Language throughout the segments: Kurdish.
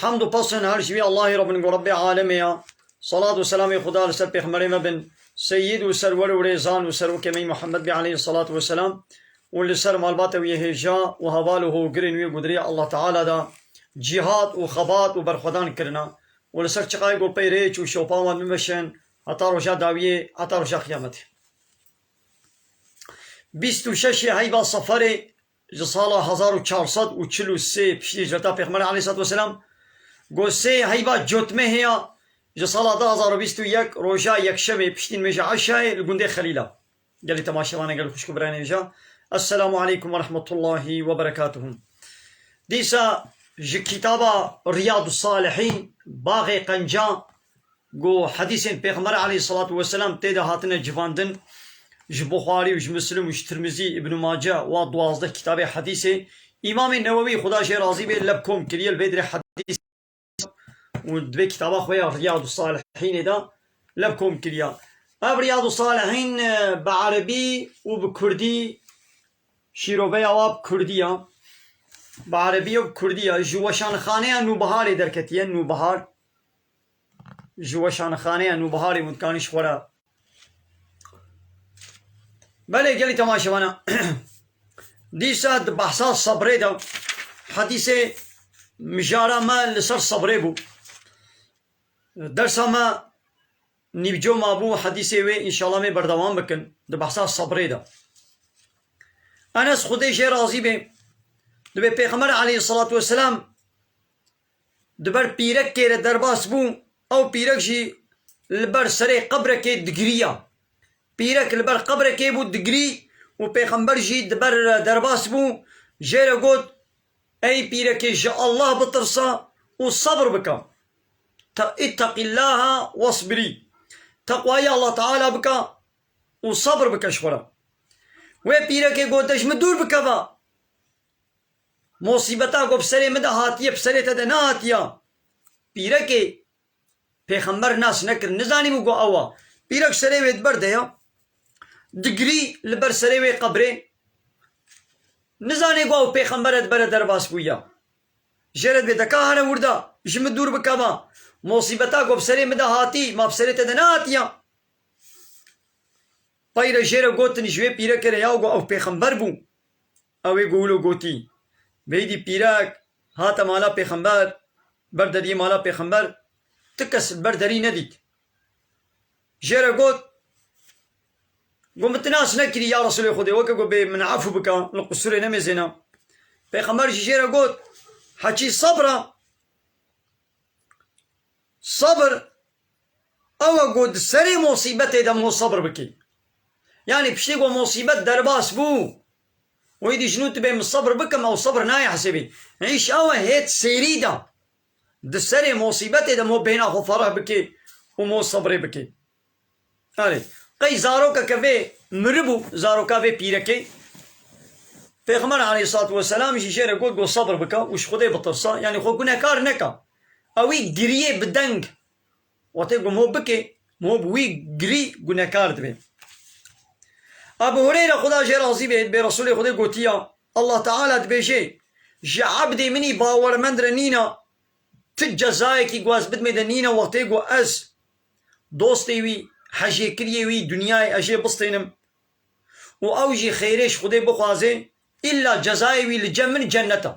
Hamd û pasên her ji wî Allahê re bin ku Rebbê alemê ye. Selat û selamê Xuda li ser pêxemberê me bin, seyyîd û serwer û rêzan û serokê me Muhammed be aleyhî selat ve selam û li ser malbata wî hêja û heval û hogirên wî ku di rêya Allah Teala de cîhat û xebat û berxwedan kirine û li ser çiqayê ku pey rêç û şopa wan bimeşin heta roja dawiyê heta roja qiyametê. Bîst û şeş ê heyva seferê. Ji sala hezar û çar sed û çil û sê piştî hicreta Pêxemberê aleyhisselatu weselam ku sê heyva cotmehê ya ji sala du hezar û bîst û yek roja yekşemê piştî nimêja eşayê li gundê Xelîl a gelê temaşevanê gel û xwişk û birayê nêvija Esselamu aleykum werehmetullahî weberekatuhu dîsa ji kitaba Riyadûsalihîn Baxê qenca Ku hedîsên Pêxember aleyhîsselatu weselam tê de hatine civandin, ji Buxarî û ji Muslim û ji Tirmizî, Îbnû Mace wa duwazdeh kitabê hedîsê Îmamê Newewî, xuda ji hê razî be, leb kom kiriye, li vê dirê hedîs û di vê kitaba xwe ya Riyadûsalihînê de leb kom kiriye. Ev Riyadûsalihîn bi erebî û bi kurdî şîroveya wa bi kurdî ye, bi erebî ye û bi kurdî ye, ji weşanxaneya Nûbiharê derketiye, Nûbihar. Ji weşanxaneya Nûbiharê Mûtkanî ji xwe re Belê gelî temaşevan e. Dîsa di behsa sebrê de hedîsê mijara me li ser sebrê bû. Dersa me nîvco mabû hedîsê wê înşala mê berdewam bikin di behsa sebrê de. Enes xwedê jê razî bê dibê pêxember aleyhî selatû weselam Di ber pîrekê re derbas bû, ew pîrek jî li ber serê qebrekê digiriya. Pîrek li ber qebrekê bû digirî û pêxember jî di ber re derbas bû, jê re got, Ey pîrekê ji Allah bitirsa û sebr bike, ittaqillaha wasbirî, teqwayê Allah Teala bike û sebr bike ji xwe re. Wê pîrekê gote ji min dûr bikeve. Musîbeta ku bi serê min de hatiye bi serê te de nehatiya. Pîrekê Pêxember nas nekir, nizanîbû ku ew a. Pîrek serê wê di ber de ya, digirî li ber serê wê qebrê, nizanê ku ew Pêxember e di bere derbas bû ya. Jê re dibê te ka here wirda, ji min dûr bikeva. Musîbeta ku bi serê min de hatî, ma bi serê te de nehatiya. Peyre jê re gotin ji wê pîreke re ya ku ew Pêxember bû. Ew ê guhul û gotî, Beydî pîrek hate mala pêxember, ber dediyê mala pêxember tu kes li ber derî nedît. Jê re got, Got min tu nas nekirî ya Resûlê Xwedê, weke got bê min efû bike, li qusûrê nemêzêne. Pêxember jî jê re got, Hekî sebr e, sebr Awe ku di serê mosîbetê de mû sebr bikî. Yanî piştî ku mosîbet derbas bû, wê dî jin û tu bê min sebr bikim, ew sebr nayê hesêbî. Îş awe hêt sêrî de di serê mosîbetê de mû bêhna xwe fereh bikî û mû sebrê bikî. Nalê, qey zaroka ke vê miribû, zaroka vê pîrekê? Pêxember aleyhissalatu weselam jî jê re got ku sebr bike û ji Xwedê bitirse, yanî xwe gunehkar neke. Ewî giriyê bi deng. Wate ku miho bikê, miho bi wî girî gunehkar dibe. Ebû Hureyre Xweda jê razî be bê Resûlê Xwedê gotiye, Allah Teala dibêje, Ji ebdê min î bawermend re nîne ti cezayekî ku ez bidimê de nîne wextê ku ez dostê wî, hejêkiriyê wî Dunyayê ez jê bistênim û ew jî xêrê ji Xwedê bixwazê, îlla cezayê wî li cem min cennet e.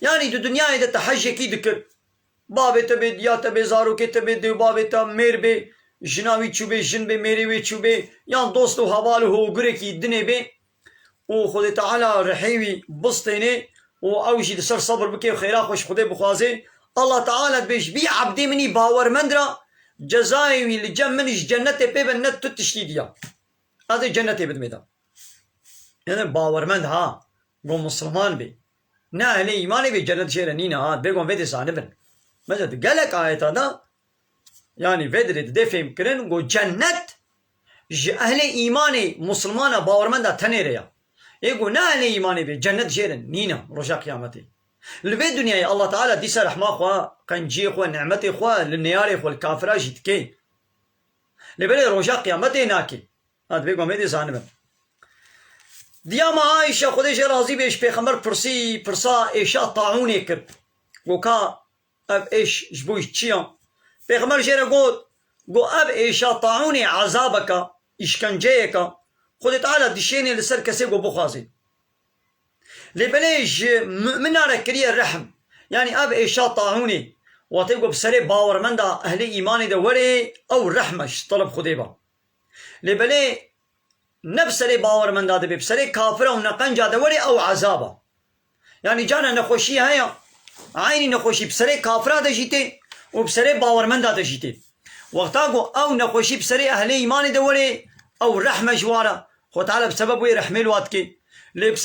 Yanî di Dunyayê de te hejekî dikir, bavê te bê, diya te bê, zarokê te bê, dêwbavê te mêr bê, jina wî çûbê, jin bê, mêrê wê çûbê, yan dost û heval û hogurekî dinê bê, û Xwedê Teala rihê wî bistênê û ew jî li ser sebr bike û xêra xwe ji Xwedê bixwazê, Allah Teala dibêj, Vî ebdê min î bawermend ra cezayê wî li cem min ji cenetê pê be ne tu tiştî diya ez ê cenetê bidim êda. Êdî bawermend ha, got misliman bê, ne ehlê îmanê bê cenet jê re nîne ha, bêguman vê dê zanibin. Mesela di gelek ayeta de. Yanî vedirê dide fêhmkirin ku cenet ji ehlê îmanê misilmana bawermenda tenê re ya. Yê ku ne ehlê îmanê be cenet jê re nîna roja qiyametê. Li vê dinyayê Allah Teala dîsa rehma xwe, qenciyê xwe, nimetê xwe li neyarê xwe li kafiran jî dike. Lê belê roja qiyametê nake. Ev divê ku em êdî zanibin. Diya me Aîşe Xwedê jê razî be ji pêxember pirsî pirsa êşa taûnê kir ku ka Ev êş ji bo çi ya? Pêxember jê re got, Got ev êşa taûnê ezabek e, îşkenceyek e, Xwedê Teala dişênê li ser kesê ku bixwazê. Lê belê ji mûminan re kiriye rehm. Yanî ev êşa taûnê, watê ku bi serê bawermenda ehlê îmanê de were ew rehm e ji teref Xwedê ve. Lê belê ne bi serê bawermenda de bê, bi serê kafira û neqenca de were ew ezab e. Yanî cana nexweşî heye, eynî nexweşî bi serê kafira de jî tê û bi serê bawermenda de jî tê. Wexta ku ew nexweşî bi serê ehlê îmanê de were, ew rehm e ji wan re, Xwe Teala bi sebeb wê rehmê li wan dike. Lê bi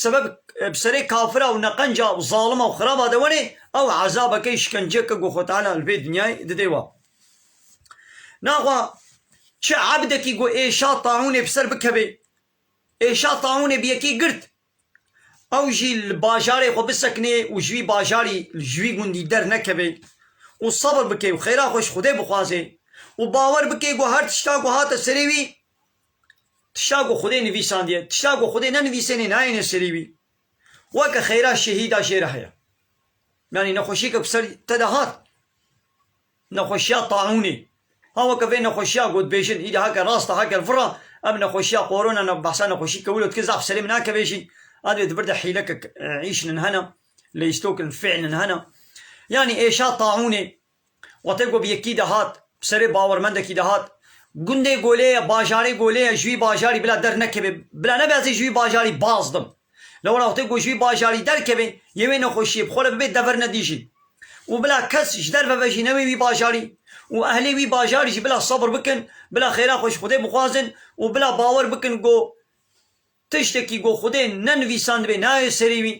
sebeb bi serê kafira û neqenca û zalima û xiraba de were, ew ezabeke, îşkenceyeke ku Xwe Teala li vê dinyayê dide wan. Naxwa çi ebdekî ku êşa taûnê bi ser bikeve, êşa taûnê bi yekê girt, Ew jî li bajarê xwe bisekinê û ji wî bajarî ji wî gundî dernekeve û sebr bike û xêra xwe ji Xwedê bixwaze û bawer bike ku her tişta ku hate serê wî tişta ku Xwedê nivîsandiye, tişta ku Xwedê nenivîsêne nayêne serê wî. Weke xêra şehîda jê re heye. Yanî nexweşiyeke ku ser te de hat. Nexweşiya taûnê ha weke vê nexweşiya gotbêjin îdî heke rast e heke vir e. Ev nexweşiya korona ne behsa nexweşî kewilo dike zaf serê min nakeve jî. Adê di vir de hîlekek îşnin hene, lêstokên fêlin hene. Yanî êşa taûnê wate ku bi yekî de hat, bi serê bawermendekî de hat. Gundê Golê ye, bajarê Golê ye, ji wî bajarî bila der nekevê, bila nebe ez ê ji wî bajarî baz bim. Li we re wextê ku ji vî bajarî derkevê, yê wê nexweşiyê bi xwe re bibe dever nedî jî. Û bila kes ji derve ve jî newê wî bajarî. Û ehlê wî bajarî jî bila sebr bikin, bila xêra xwe ji Xwedê bixwazin û bila bawer bikin ku tiştekî ku Xwedê nenivîsandibê nayê serê wî.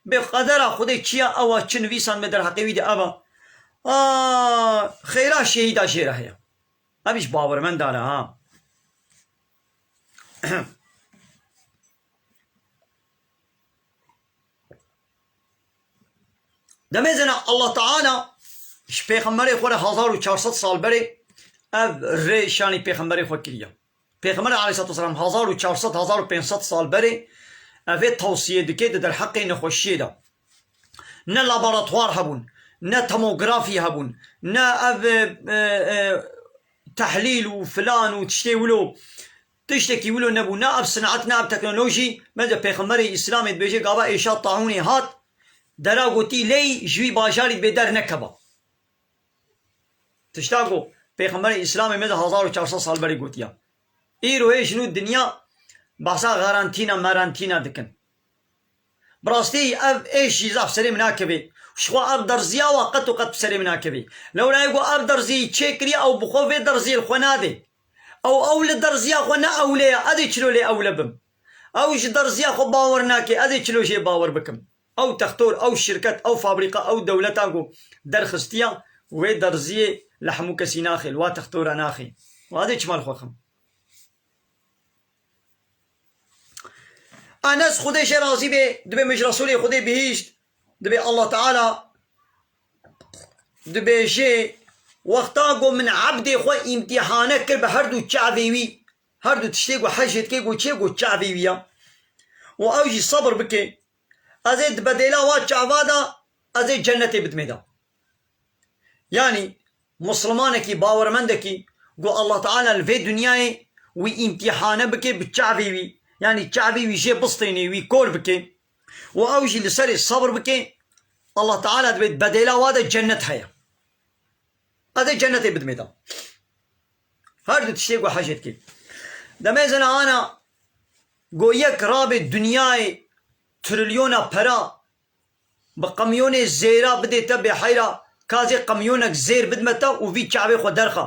Bê qedera Xwedê çi ya ew a çi nivîsandibê derheqê wî de ev a. A, xêra şehîda jê re heye. Ev îş bawermendane a. Demê zena Allah Teala ji pêxemberê xwe re hezar û çar sed sal berê ev rê şanî pêxemberê xwe kiriye. Pêxember aleyhissalatu vesselam hezar û çar sed hezar û pênc sed sal berê evê tewsiyê dike di derheqê nexweşiyê de. Ne laboratwar hebûn, ne tomografî hebûn, ne ev e, e, Tehlîl û filan û tiştê wilo tiştekî wilo nebû ne ev sineat ne ev teknolojî bence pêxemberê îslamê dibêje gava êşa taûnê hat dera gotî ley ji wî bajarî dibê der nekeva tişta ku pêxemberê îslamê me di hezar û çar sed sal berê gotiya îro hê ji nû dinya behsa xerentîna merentîna dikin. Bi rastî ev êş jî zaf serê min nakeve û ji xwe ev derziya wa qet û qet bi serê min nakeve. Lewra yê ku ev derziyê çê kiriye ew bi xwe vê derziyê li xwe nade. Ew ew li derziya xwe ne ewle ye ez ê çilo lê ewle bim. Ew ji derziya xwe bawer nake ez ê çilo jê bawer bikim. Ew textor, ew şirket, ew fabrîka, ew dewletan ku derxistiya wê derziyê li hemû kesî naxê, li wa textora naxê. Wan ez ê çima li xwe bixim? Enes Xwedê jê razî bê dibê min ji Resulê Xwedê bihîşt dibê Allah Teala dibêjê wexta ku min ebdê xwe îmtîhane kir bi her du çavê wî her du tiştê ku hicê dike ku çê ku çavê wî ye û ew jî sebir bike ez ê di bedêla wan çava de ez ê cenetê bidimê de. Yanî Muslimanekî bawermendekî ku Allah Teala li vê dinyayê wî îmtîhane bike bi çavê wî yanî çavê wî jê bistênê wî kor bike û ew jî li serê sebr bike Allah Teala divê di bedêla we de cennet heye. Ez ê cennetê bidimê da. Her du tiştê ku hecê dike. Demê zina ana ku yek rabê dinyayê trilyona pera Bi qemyonê zêra bidê te bê heyra kazê qemyonek zêr bidme te û vî kevê xwe derxe.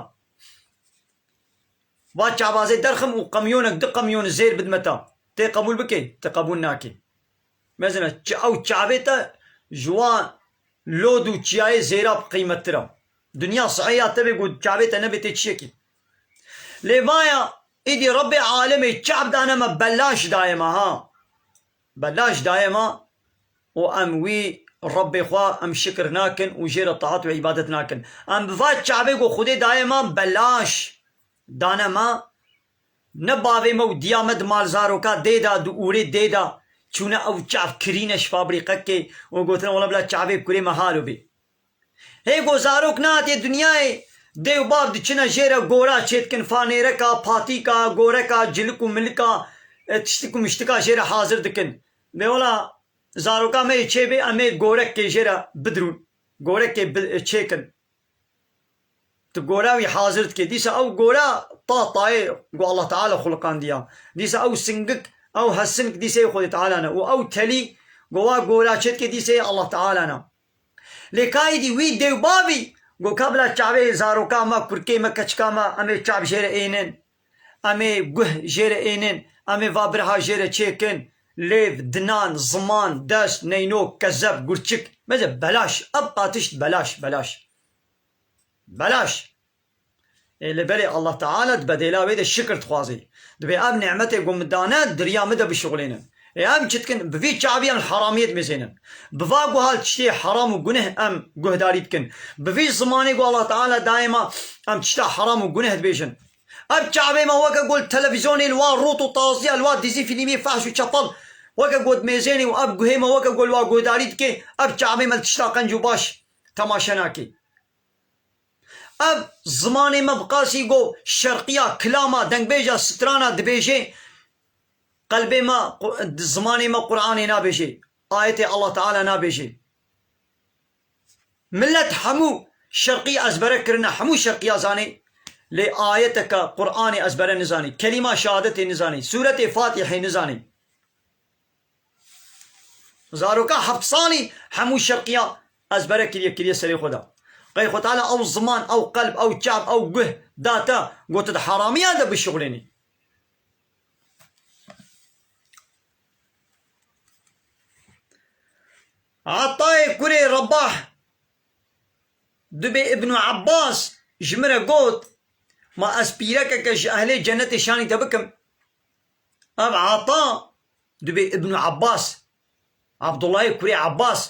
Va kevazê derxim û qemyonek du qemyon zêr bidme te. Tê qebûl bikê? Ti qebûl nakê. Mezin e, ew kevê te ji wan lod û çiyayê zêra qîmettir e. Dinya sihê ya te bê ku kevê te nebê tê çiyekî. Lê vaya, Îdî Rebbê alemê kev dane me belaş daye me ha. Belaş daye ma û em wî Rebbê xwe em şikir nakin û jê re taat û îbadet nakin. Em bi va çavê ku Xwedê daye ma belaş dane ma, ne bavê me û diya me di mal zaroka dê de, di ûrê dê de çûne ew çav kirîne ji fabrîqekê û gotine wela bila çavê kurê me halo bê. Hê ku zarok nehatî dinyayê, dê û bav diçine jê re gora çêdikin, fanêreka, patîka, goreka, cilik û milika, tiştik û miştika jê re hazir dikin. Lê wela zaroka me yê çêbê em ê gorekê jê re bidirûn, gorekê çêkin. Tu gora wî hazir dikî, dîsa ew gora ta tayê ku Allah Teala xuliqandiya. Dîsa ew singik, ew hesink dîseyê Xwedê Teala ne û ew telî ku wa gora çêdikê dîseyê Allah Teala ne. Lê ka êdî wî dê û bavî got ka bila çavê zaroka me, kurkê me, keçika me em ê çav jê re ênin, em ê guh jê re ênin, em ê va birha jê re çêkin, lêv, dinan, ziman, dest, neynok, kezeb, gurçik, meze belaş, ev qatişt belaş, belaş, belaş. Ê li berê Allah Teala di bedêla wê de şikir dixwazê. Divê ev nîmetê ku min dane di riya min de bişuxulênim. Ê em çi dikin? Bi vî çaviyan li heramiyê dimezênin. Bi va guha li tiştê heram û guneh em guhdarî dikin. Bi vî zimanê ku Allah Teala dayê me em tişta heram û guneh dibêjin. Ev çavê me weke ku li televîzyonê li wa rût û taziya, li wa dîzî fîlîmê fehş û çepel weke ku dimezênê û ev guhê me weke ku li wa guhdarî dikê, ev çavê me li tişta qenc û baş temaşe nake. Ev zimanê me bi qasî go şerqiya kilama dengbêja strana dibêjê qelbê me zimanê me Quranê nabêjê ayetê Allah Teala nabêjê milet hemû şerqî ezbere kirine hemû şerqiya zanê lê ayeteke Quranê ezbere nizanê kelîma şehadetê nizanê sûretê fatîhê nizanê. Zaroka heft salî hemû şevqiya ezbere kiriye kiriye serê xwe de. Qey xwe tala ew ziman, ew qelb, ew çav, ew guh da te ku tu di haramiyan de bişuxulênî. Atayê kurê Rebah dubê Ibn Abbas ji min re got, Ma ez pîrekeke ji ehlê cenetê şanî te bikim? Ev Ata dibê Ibnû Ebas, Abdûllahê kurê Ebas,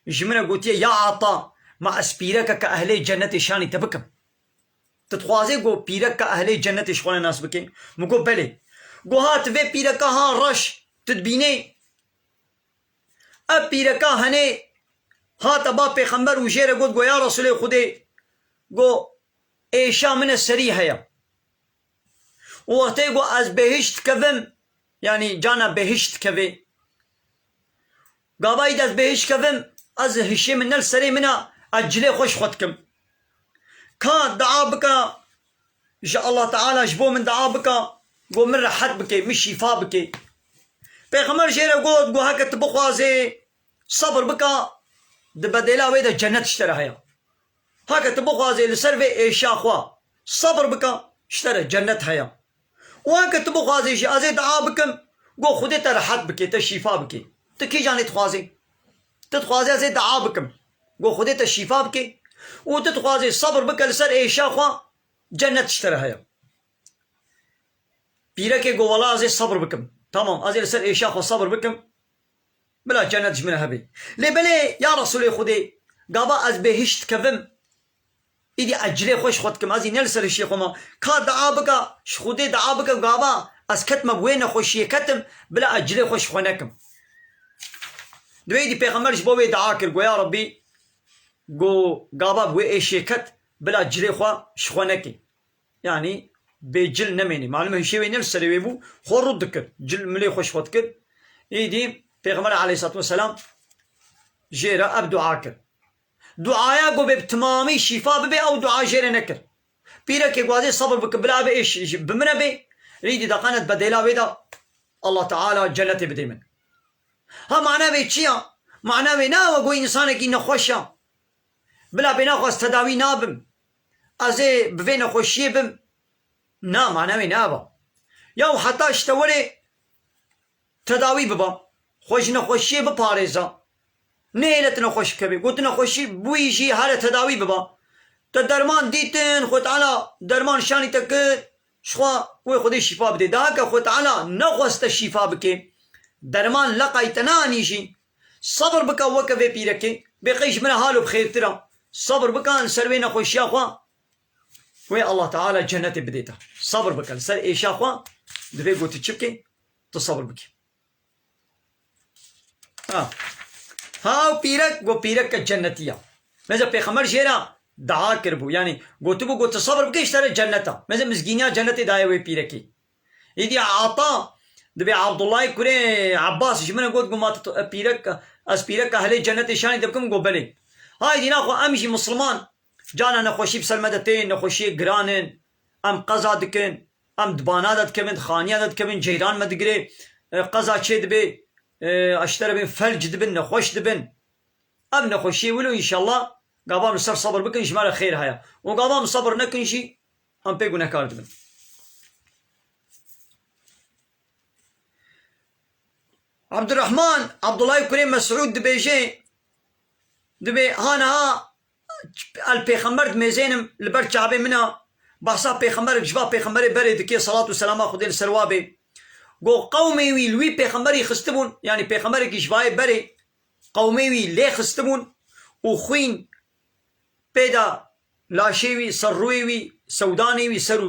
ji min re gotiye ya Ata ma ez pîrekeke ehlê cenetê şanî te bikim. Tu dixwazê ku pîrekeke ehlê cenetê ji xwe re nas bikê? Min got belê. Got ha tu vê pîreka ha reş tu dibînê? Ev pîreka henê hate ba pêxember û jê re got ya Resûlê Xwedê got êşa min e serî heye. Wextê ku ez bêhişt dikevim, yanî cana bêhişt dikevê. Gavayî ez bêhişt dikevim, ez hişê min ne li serê min a, ez cilê xwe ji xwe dikim. Ka dua bika ji Allah Teala ji bo min dua bika ku min rehet bike, min şîfa bike. Pêxember jê re got ku heke tu bixwazê, sebir bika, di bedêla wê de cenet ji te re heye. Heke tu bixwazê li ser vê êşa xwe sebr bike, ji te re cenet heye. Û heke tu bixwazê jî ez ê dua bikim ku Xwedê te rehet bike, te şîfa bike. Tu kîjan lê dixwazê? Tu dixwazê ez ê dua bikim ku Xwedê te şîfa bike û tu dixwazê sebr bike li ser êşa xwe, cenet ji te re heye. Pîrekê got, Wela ez ê sebr bikim. Tamam, ez ê li ser êşa xwe sebr bikim. Bila cenet ji min re hebe. Lê belê ya Resûlê Xwedê, gava ez bêhîşt dikevim, îdî ez cilê xwe ji xwe dikim, ez î ne li ser hişê xwe ma. Ka dua bike, ji Xwedê dua bike û gava ez ketime bi wê nexweşiyê ketim, bila ez cilê xwe ji xwe nekim. Divê îdî pêxember ji bo wê dua kir, Go ya Rebbî, go gava bi wê êşiyê ket, bila cilê xwe ji xwe nekê. Yanî bê cil nemênî. Malum e hişê wê ne li serê wê bû, xwe rût dikir. Cil milê xwe ji xwe dikir. Êdî Pêxember aleyhissalatu vesselam jê re ev dua kir. Duaya ku bê bi timamî şîfa bibê ew dua jê re nekir. Pîrekê ku azê sebr bike bila ev êş ji bi min re bê, êdî deqene di bedêla wê de Allah Teala cenetê bidê min. Ha mana wê çi ya? Mana wê ne ew e ku wê însanekî nexweş e. Bila bênaxwaz tedawî nabim. Ez ê bi vê nexweşiyê bim? Na, mana wê ne ev a. Ya û heta ji te were tedawî biba, xwe ji nexweşiyê biparêza. Nehêle tu nexweş bikevî. Ku tu nexweşî bûyî jî here tedawî biba. Te derman dîtin, Xwe Teala derman şanî te kir, jixwe wê Xwedê şîfa bidê. Daheke Xwe Teala nexwest te şîfa bike, derman leqayî te neanî jî, Sebr bike weke vê pîrekê. Bêqey ji min re hal û bi xêrtir a. Sebr bike li ser wê nexweşiya xwe wê Allah Teala cenetê bidê te. Sebr bike li ser êşa xwe divê ku tu çi bikê? Tu sebr bikî. Ha ha ew pîrek got pîreke cenetî ya. Mêze pêxember jê re dua kiribû yanî gotibû ku tu sebr bikî ji te re cenet a. Mêze mizgîniya cenetê daye wê pîrekê. Êdî Ata divê Abdullayê kurê Ebbasî ji min re got ku ma tu pîrek e, ez pîrek e helê cenetê şanê te bikim? Got belê. Hay dîna xwe em jî misilman carna nexweşî bi ser me de tên, nexweşiyê giran in, em qeza dikin, em di bana de dikevin, di xaniya de dikevin, ceyran me digirê, qeza çê dibê, ji te re bên felc dibin, nexweş dibin. Ev nexweşiyê wilo înşellah gavan bi ser sebir bikin ji me re xêr heye. Û gavan bi sebir nekin jî Em pê gunehkar dibin. Abdurrahman Abdullah Kurê Mesud dibêje dibê hanaha el pêxember dimêzênim li ber Kabê min a behsa pêxemberik ji va pêxemberê berê dikê selat û selama Xwedê li ser wa bê. Go qewmê wî li wî pêxemberî xistibûn yanî pêxemberekî ji vayê berê qewmê wî lê xistibûn û xwîn Pêda laşê wî, serrûyê wî, sewdanê wî, ser û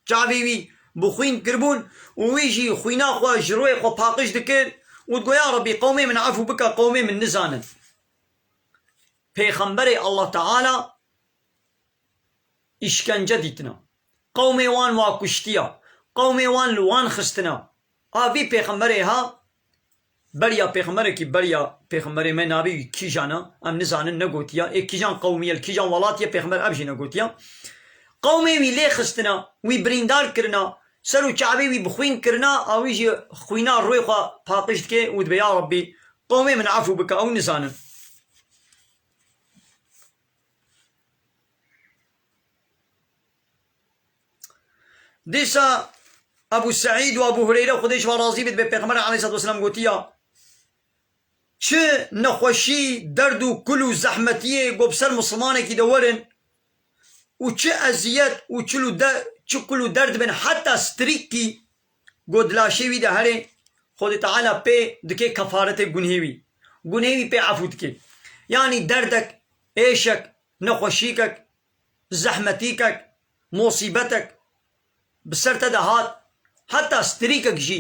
çavê wî bi xwîn kiribûn û wî jî xwîna xwe ji royê xwe paqij dikir û digot, Ya Rebî qewmê min efû bike qewmê min nizanin pêxemberê Allah Teala îşkence dîtina, qewmê wan wa kuştiya, qewmê wan li wan xistina. A vî pêxemberê ha beriya pêxemberekî beriya pêxemberê me nabî wî kîjan a em nizanin negotiya ê kîjan qewmiye li kîjan welatiye pêxember ev jî negotiya qewmê wî lê xistina wî birîndar kirina ser û çavê wî bi xwîn kirina a wî jî xwîna rûê xwe paqiş dike û dibe ya Rabbî qewmê min efû bike ew nizanin. Dîsa Ebû Seîd û Ebû Hureyre Xwedê ji wan razî be di Pêxemberê aleyhisselatûwesselâm gotiya, Çi nexweşî, derd û kul û zehmetiyê ku bi ser misilmanekî de werin û çi eziyet û çi kul û derd bin heta strîkî ku di laşê wî de herê, Xwedê Teala pê dike kefaretê gunhê wî. Gunhê wî pê efû dike. Yanî derdek, êşek, nexweşîkek zehmetîkek, mosîbetek bi ser te de hat, heta strîkek jî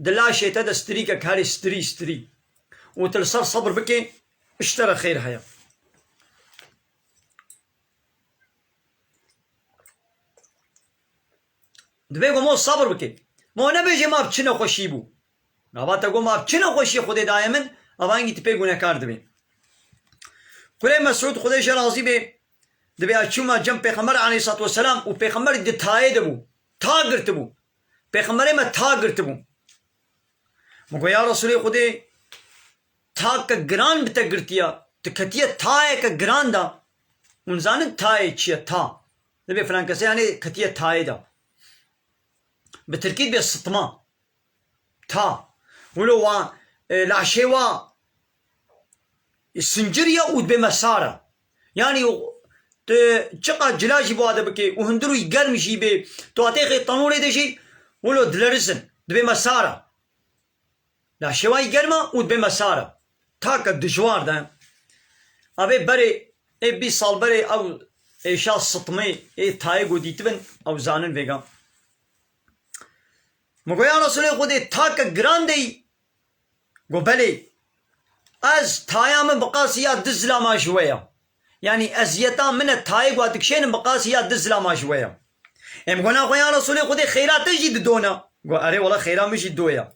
di laşê te de strîkek herî strî strî û tu li ser sebir bikê ji te re xêr heye. Divê ku mo sebir bike. Mo nebêje ma bi çi nexweşî bû. Gava te got ma tu çi nexweşiyê Xwedê daye min, ava hingî tu pê gunekar dibî. Kurê Mesûd, Xwedê jê razî bê, di vêya çûma cem Pêxember aleyhîssalatu weselam û Pêxember di tayê de bû, ta girtibû. Pêxemberê me ta girtibû. Min got ya Resûlê Xwedê, take giran bi te girtiya, tu ketiye tayeke giran de. Hûn dizanin tayê çi ye, ta. Divê filan kesê hene ketiye tayê de. Bi tirkî divê sitma. Ta, wilo wa laşê wa sincir ya û dibê me sar e. Yanî tu çiqas cila jî bi wa de bikê û hundir wî germ jî bê, tu hatê xê tenûrê de jî wilo dilerizin, dibê me sar e. Laşê wa yî germ e û dibê me sar e. Ta ke dijwar de, avê berê ê bîst sal berê ew êşa sitmê ê tayê ku dîtibin ew zanin vêga. Min got ya Resulê Xwedê takek giran deyî? Got belê. Ez taya min bi qasî ya du zilama ji we ya. Yanî eziyeta min e tayê ku ez dikişênim bi qasî ya du zilama ji we ya. Ê min got na xwe ya Resulê Xwedê xêra te jî dido na? Got erê wela xêra min jî do ya.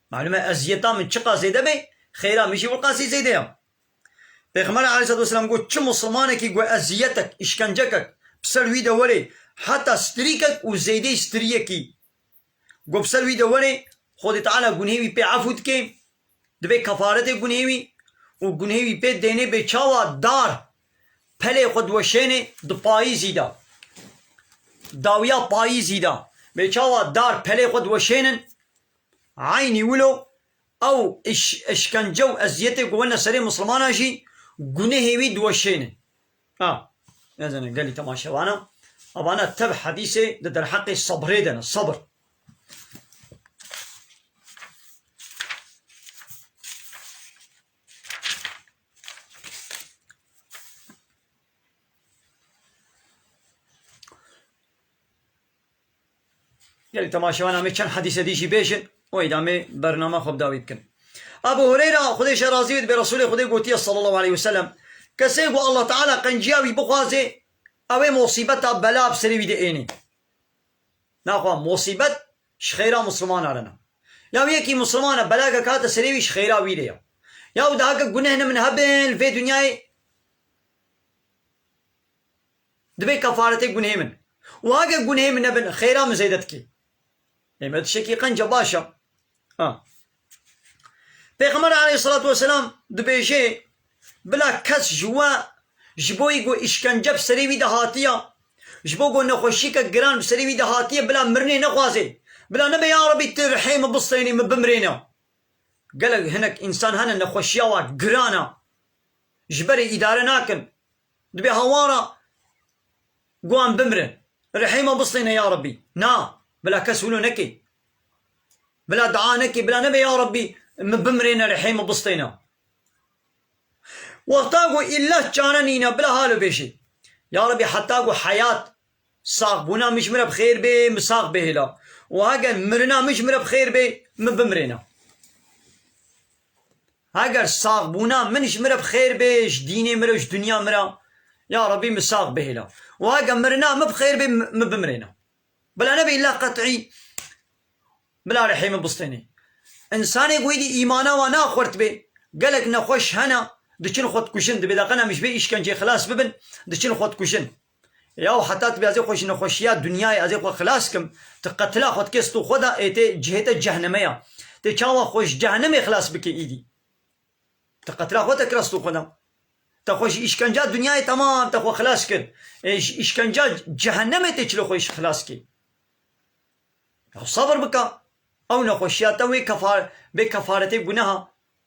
Malum e eziyeta min çiqas zêde bê xêra min jî wê qasî zêde ya. Pêxember aleyhisselatüvesselam got, Çi mislimanekî ku eziyetek, îşkencekek bi ser wî de were, heta strîkek û zeydeyî strîyekî ku bi ser wî de were, Xwedê Teala gunhê wî pê efû dike, dibe kefaretê gunhê wî û gunhê wî pê dêne bê çawa dar pelê xwe diweşêne di payîzî de, dawiya payîzî de bê çawa dar pelê xwe diweşênin, eynî wilo Ew îşkence û eziyetê ku wene serê misilmanan jî gunehê wî diweşêne. A. Nezanim gelî temaşe vana. A vana tev hedîsê di derheqê sebrê de ne. Sebr. Gelek temaşevan amê çend hedîse dî jî bêjin û êdî amê bernama xwe bi dawî bikin. Ebû Hureyra, Xwedê ji razî bê, dibê Resûlê Xwedê gotiye sallallahu aleyh ve selem, Kesê ku Allah Teala qenciya wî bixwazê, ew ê mosîbeta, bela, bi serê wî de ênê. Naxwa mosîbet ji xêra mislimana re ne. Ya wê yekî misliman e, belagek hate serê wî ji xêra wî re ye. Ya wê diheke guneh ne min hebin li vê dinyayê, Dibê kefaretê gunhê min. Wiha ge gunhê min nebin xêra min zêde dikê. Lê me tişekî qenc e baş e. A. Pêxember aleyhissalatu vesselam dibêje, Bila kes ji we ji bo yî ku îşkence bi serê wî de hatiye, ji bo ku nexweşîyeke giran bi serê wî de hatiye bila mirinê nexwazê. Bila nebe ya Rebî tu rihê min bistênî min bimirêne. Gelek hinek însan hene nexweşîya wan giran e. Ji berê îdare nakin. Dibe hawara guan bimrin. Rehîma bistêne ya Rabbî. Na, bila kes wilo neke. Bila dua neke, bila nebe ya Rabbî min bimrêne rehîma bistêne. Wexta ku îllah çare nîne bila halo bêje. Ya Rabbî heta ku heyat Sax bûna min ji min re bi xêr bê, min sax bihêla û heger mirina min ji min re bi xêr bê, min bimirêna. Heger sax bûna min ji min re bi xêr bê, ji dînê min re û ji dinya min re, ya Rebî min sax bihêla û heger mirina min bi xêr bê, min bimirêna. Bila nebe îlla qet'î, bila rihê min bistênê. Însanê ku êdî îmana wan axurtibê, gelek nexweş hene, diçin xwedikujin, divê deqena min ji vê îşkenceyê xilas bibin, diçin xwedikujin. Ya û heta tu bê ez ê xwe ji nexweşiya dinyayê ez ê xwe xilas kim, tu qetila xwe dikê stû xwe de ê tê cihê te cehneme ya. Tê çawa xwe ji cehenemê xilas bikê îdî. Tu qetila xwe te kira stû xwe de. Te xwe ji îşkenca dinyayê temam te xwe xilas kir. Ê ji îşkenca cehenemê tê çilê xwe îş xilas kê. Ya sebr bike. Ew nexweşiya te wê kefa bê kefaretê guneha.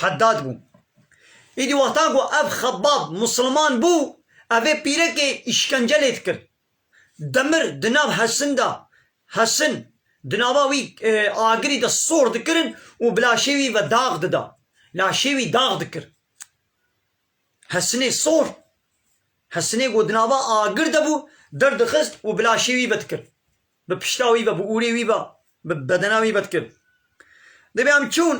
Heddad bû. Îdî wexta ku ev Xebbab Misliman bû, ev ê pîrekê îşkence lê dikir. Demir di nav Hesin de, Hesin di nava wî agirî de sor dikirin û bi laşê wî ve dax dida. Laşê wî dax dikir. Hesinê sor, Hesinê ku di nava agir de bû, derdixist û bi laşê wî ve dikir. Bi pişta wî ve, bi ûrê wî ve, bi bedena wî ve dikin. Divê em çûn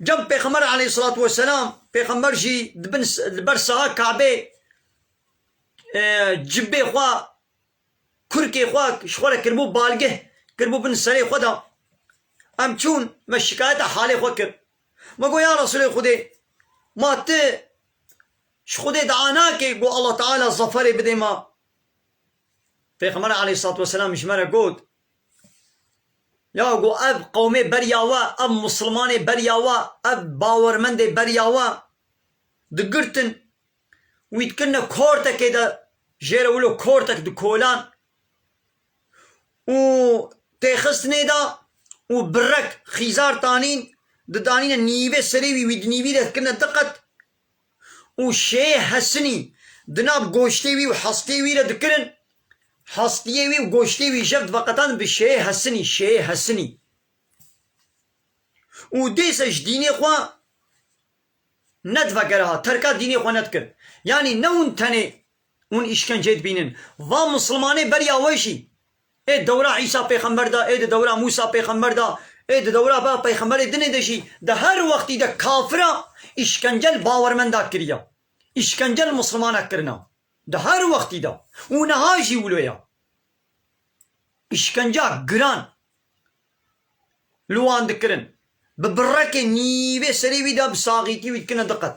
cem pêxember aleyhîsselatu weselam, pêxember jî di bin li ber saxa kabê cibê xwe, kurkê xwe ji xwe re kiribû balgeh, kiribû bin serê xwe de. Em çûn me şikayeta halê xwe kir. Me got ya Resûlê Xwedê ma ti ji Xwedê dua nakê ku Allah Teala zeferê bidê me? Pêxember aleyhissalatu vesselam ji me re got, Ya ku ev qewmê beriya we, ev mislimanê beriya we, ev bawermendê beriya we digirtin û wî dikirine kortekê de jê re wilo kortek dikolan û têxistinê de û birek xîzar tanîn didanîne nîvê serê wî, wî di nîvî de dikirine diqet û şêyê hesinî di nav goştê wî û hestê wî de dikirin, hestiyê wî û goştê wî jev diveqetandin bi şêyê hesinî, şêyê hesinî. Û dêse ji dînê xwe nedivekere ha, terka dînê xwe nedikir. Yanî ne hûn tenê. Hûn îşkencê dibînin. Va Mislimanê beriya we jî ê dewra Îsa pêxember de, ê di dewra Mûsa pêxember de, ê di dewra ba pêxemberê dinê de jî di her wextî de kafira îşkence li bawermenda kiriye. Îşkence li Mislimana kirine. Di her wextî de. Û niha jî wilo ye. Îşkenca giran li wan dikirin. Bi birekê nîvê serê wî de bi saxîtî wî dikine diqet.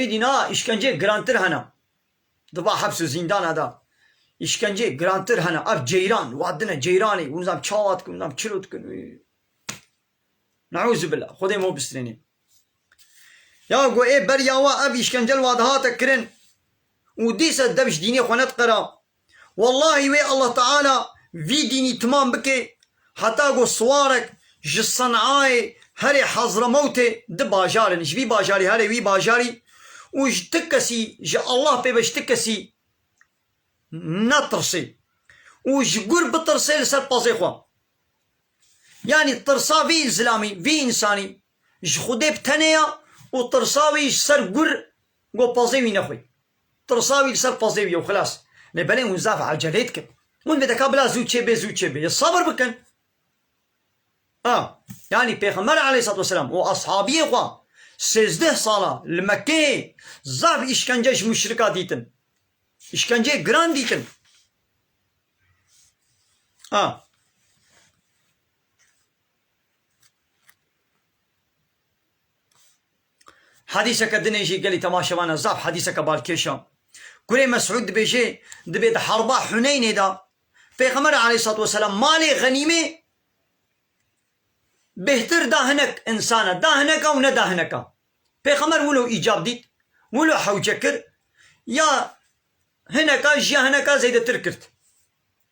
Êdî niha îşkenceyê girantir hene. Di va heps û zîndana de îşkenceyê girantir hene. Ev ceyran vadine ceyranê hûn nizam çawa dikin, hûn nizam çiro dikin û neûzubila xwedê min we bistrînê. Ya ku ê beriya we ev îşkence li va dihate kirin û dîsa dev ji dînê xwe nediqera, Wellahî wê Allah Teala vî dînî timam bike heta ku siwarek ji Sen'ayê herê Hazremewtê di bajar in ji vî bajarî herê wî bajarî û ji ti kesî ji Allah pê be ji ti kesî netirsê û ji gur bitirsê li ser pezê xwe. Yanî tirsa vî îlzilamî vî însanî Ji Xwedê bi tenê ya û tirsa wî ji ser gur got pazê wî nexwî. Tirsa wî li ser pazê wî ye û xilas. Lê belê hûn zaf ecelê dikin. Hûn vê deka bila zû çêbê zû çêbê yê sebir bikin. A. Yanî Pêxember aleyhîssalatu weselam û eshabiyê xwe sêzdeh sala li Mekkeyê zaf îşkence ji muşrika dîtin. Îşkenceyê giran dîtin. A. Hedîseke din e jî gelî temaşevan e, zaf hedîseke balkêş e. Kurê Mesûd dibêje, dibê di herba Huneynê de Pêxember aleyhissalatu weselam malê xenîmê bêhtir da hinek insane, da hineka û neda hineka. Pêxember wilo îcab dît, wilo hewce kir, ya hineka ji ya hineka zêdetir kirt.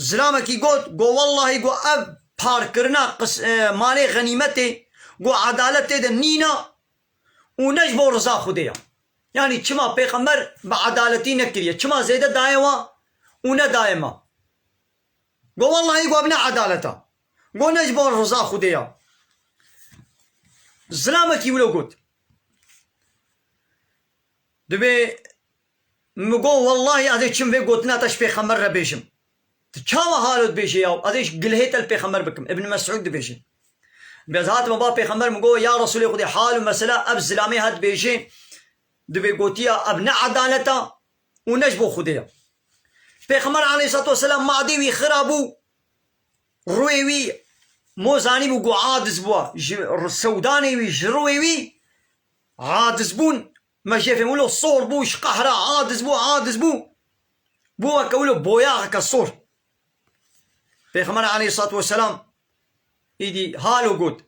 Zilamekî got, Go wellahî go ev parkirina malê xenîmetê go edalet tê de nîna û ne ji bo riza Xwedê ya. Yanî çima pêxember bi edaletî nekiriye, çima zêde daye wan û nedaye me. Go wellahî go ev ne edalet e. Go ne ji bo riza Xwedê ya. Zilamekî wilo got. Divê Min got, Wellahî ez ê çim vê gotina te ji pêxember re bêjim. Tu çawa halo dibêjî ya û ez ê ji gilhê te li pêxember bikim. Ibn Mesûd dibêje, Bi ez hatime ba pêxember min got, Ya Resûlê Xwedê, hal û mesela ev zilamê hat dibêje, di vê gotiya ev ne edalet a û ne ji bo Xwedê ye. Pêxember aleyhîssalatu weselam madê wî xira bû, rûyê wî mo zanîbû ku adiz bûa, ji sewdanê wî, ji rûyê wî adizbûn Me jê fêm wilo sor bû, ji qehra aciz bû, aciz bû, bû weke wilo boyaxeke sor. Pêxember aleyhissalatu vesselam îdî halo got,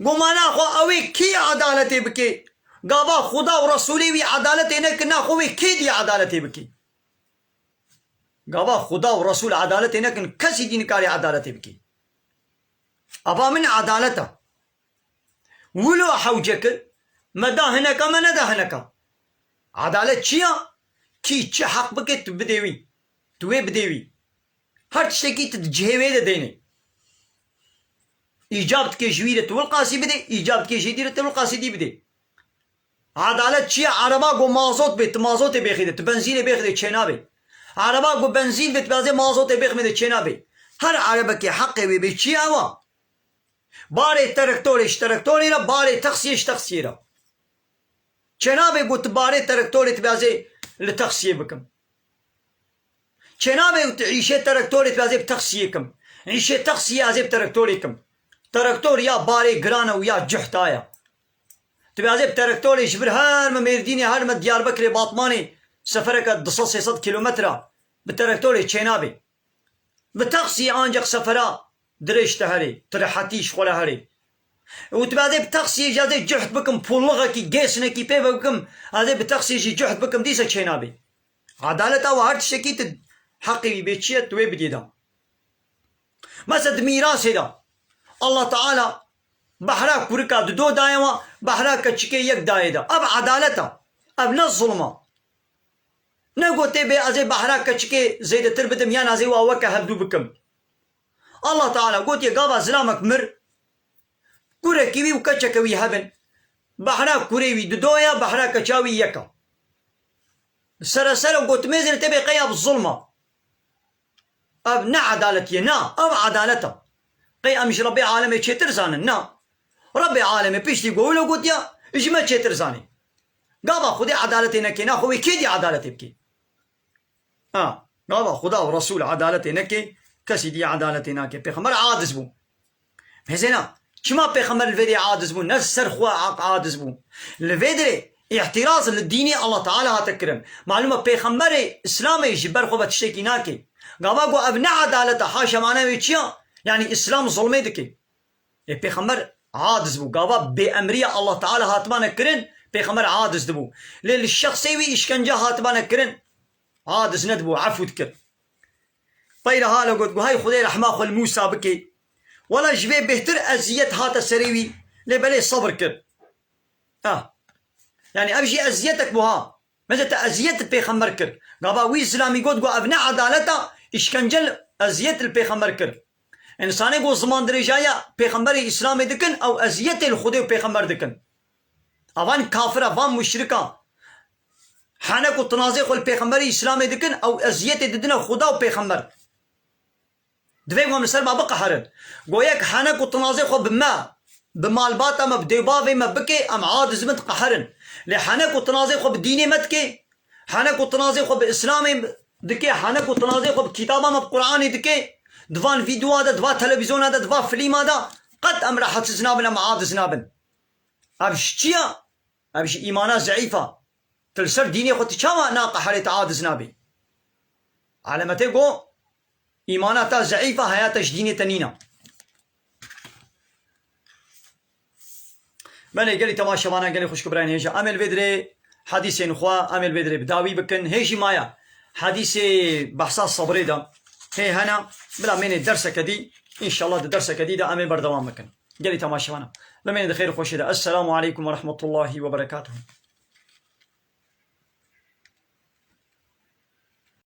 Goma naxwe ewê kî edaletê bikê, gava Xuda û Resûlê wî edaletê nekin naxwe wê kê dî edaletê bikê? Gava Xuda û Resûl edaletê nekin, kesî dî nikarî edaletê bikê. Eva min edalet e. Wilo hewce kir, me da hineka me neda hineka. Edalet çi ya? Kî çi heq bike tu bidê wî. Tu wê bidê wî. Her tiştekî tu di cihê wê de deynê. Îcab dike ji wî re Tiwil Qasî bidê, îcab dike ji dî re Tiwil Qasî dî bidê. Edalet çi ya? Ereba ku mazot bê tu mazotê bêxîde, tu benzînê bêxîde çênabê. Ereba ku benzîn bê tu bêazê mazotê bêxmîde çênabê. Her erebekê heqê wê bê çi ya ew a? Barê terektorê ji terektorê re, barê texsiyê ji texsiyê re. Çênabe ku tu barê terektorê dibezê li texsiyê bikim. Çênabe ku tu îşê terektorê dibezê bi texsiyê kim. Îşê texsiyê ez ê bi terektorê kim. Terektor ya barê giran e û ya cih daye. Dibezê bi terektorê ji vir her me Mêrdînê, her me Diyarbekirê, Batmanê, sefereke du sed sê sed kîlometre bi terektorê çênabe. Bi taksiyê ancak sefera dirêj te herê, tu rehetî ji xwe re herê. Wutibû ez ê bi taksiyê jî ez ê cuhd bikim pûllighekî, gêsnekî pê vebikim, ez ê bi taksiyê jî cuhd bikim dîsa çê nabê. Edalet awe her tiştekî tu heqê wî bê çiye tu wê bidî dan. Mesela di mîrasê de Allah Teala behra kurika di do daye we, behra keçikê yek dayê de. Ev edalet e. Ev ne zulm e. Ne gotê bê ez ê behra keçikê zêdetir bidim yan ez ê wa weke hevdû bikim. Allah Teala gotiye gava zilamek mir, kurekî wî û keçeke wî hev in. Behra kurê wî di do ya, behra keça wî yek a. Bi seresere gotimêzê re tê bê qey ev zulm a. Ev ne edaletî ye. Na, ev edalet a. Qey em ji Rebbê Alemê çêtir zanin? Na. Rebbê Alemê piştî ku wilo gotiya, ji me çêtir zanî. Gava Xwedê edaletê neke na xwe wê kê dî edaletê bike? A. Gava Xweda û Resûl edaletê neke, kesî dî edaletê nake. Pêxember aciz bû. Hêzêna, çima pêxember li vê derê aciz bû, ne ji ser xwe aciz bû. Li vê derê îhtiraz li dînê Allah Teala hate kirin. Malûm e pêxemberê Îslamê ji ber xwe ve tiştekî nake. Gava ku ev ne edalet e, haşa mana wê çi ya? Yanî Îslam zulmê dike. Lê pêxember aciz bû, gava bêemriya Allah Teala hatibane kirin, pêxember aciz dibû. Lê li şexsê wî îşkence hatibane kirin, aciz nedibû, efû dikir. Peyre hale got, Got, Hey Xwedê rehma xwe li Mûsa bikê. Wela ji vê bêhtir eziyet hate serê wî, lê belê sebir kir. Ah! Yanî ev jî eziyetek bû ha! Me zî te eziyet li pêxember kir. Gava wî Îslamî got ku ev ne edalet a, îşkence li eziyet li pêxember kir. Însanê ku zimandirêjaya pêxemberê Îslamê dikin ew eziyetê li Xwedê û pêxember dikin. Avan kafir e, van muşrik a. Hene ku tinazê xwe li pêxemberê Îslamê dikin ew eziyetê didine Xweda û pêxember. Divê wan li ser me biqeherin. Goyek hene ku tinazê xwe bi me, bi malbata me, bi dêwbavê me bikê, em a dizibin diqeherin. Lê hene ku tinazê xwe bi dînê me dikê, hene ku tinazê xwe bi Îslamê dikê, hene ku tinazê xwe bi kitaba me, bi Quranê dikê, di van vîdyoa de, di va televîzyona de, di va filîma de, qet em rehetsiz nabin, em adiz nabin. Ev ji çi ye? Ev ji îmana zeîf e. Tu li ser dînê xwe tu çawa naqeherî, tu adiz nabî? Elemetê got, Îmana te zeîf e, heyata ji dînê te nîne. Belê gelî tema şevana gelê xwişk û birayên hêja em ê li vê dirê hedîsên xwe em ê li vê dirê bi dawî bikin. Hê jî maye hedîsê behsa sebrê de hê hene bila mênê derseke dî înşallah di derseke dî de em ê berdewam bikin. Gelî tema şevana bimêne di xêr û xweşê de. Esselamu aleykum ve rehmetullahî ve berekatuhu.